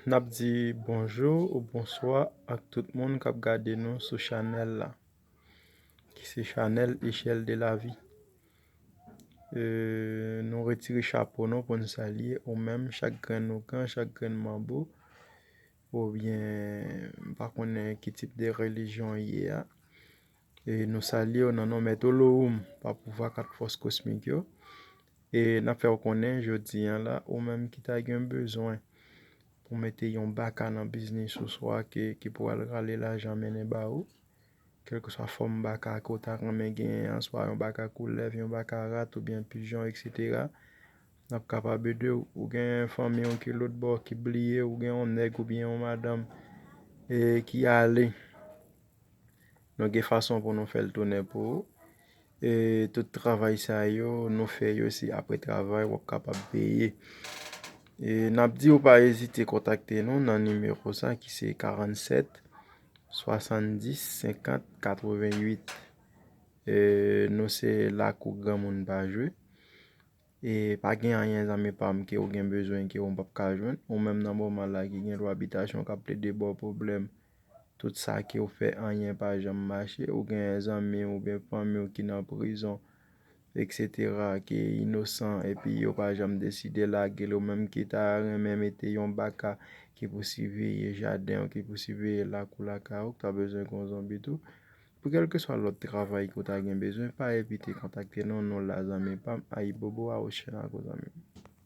N ap di bonjou ou bonswa ak tout moun k ap gade nou sou chanèl la ki se chanèl Echelle de la vie Nou retire chapo nou pou n salye ou menm chak grenn ougan, chak grenn manbo oubyen m pa konnen ki tip de relijyon ou ye a E nou salye w nan non Mèt Olorum pa pouvwa kat fòs kosmik yo. E n ap fè w konnen jodi an la, ou menm ki ta gen bezwen pou mete yon baka nan biznis ou swa ke ki pou al rale lajan mennen ba ou, kèlkeswa fòm baka ke w ta renmen genyen an, swa yon baka koulèv, yon baka rat oubyen pijon eksetera, n ap kapab ede w. Ou gen fanmi w ki lotbò ki bliye w, ou gen yon nèg oubyen yon madanm ki ale Nou gen fason pou nou fè l tounen pou ou. E tout travay sa yo, nou fè yo se apre travay wap kapab peye. E nap di ou pa ezite kontakte nou nan nimewo sa ki se 47 70 50 88. E nou se lakou granmoun pa jwe. E pa gen anyen zanmi pam ke ou gen bezwen ke ou pap ka jwenn. Ou menm nan moman la ki gen lwa bitasyon kap plede baw pwoblèm. Tout sa ke ou fè anyen pa janm mache. Ou gen zanmi ou gen fanmi ou ki nan prizon etc. Ki inosan epi yo pa janm deside lage l. Ou menm ki ta renmen mete yon baka ki pou siveye jaden ou ki pou siveye lakou lakay ou. Ou ta bezwen kon zanmi tou. Pou kèlkeswa lòt travay ke w ta gen bezwen pa ezite kontakte nou, nou la zanmi pam, ayibobo awochenago zanmi m.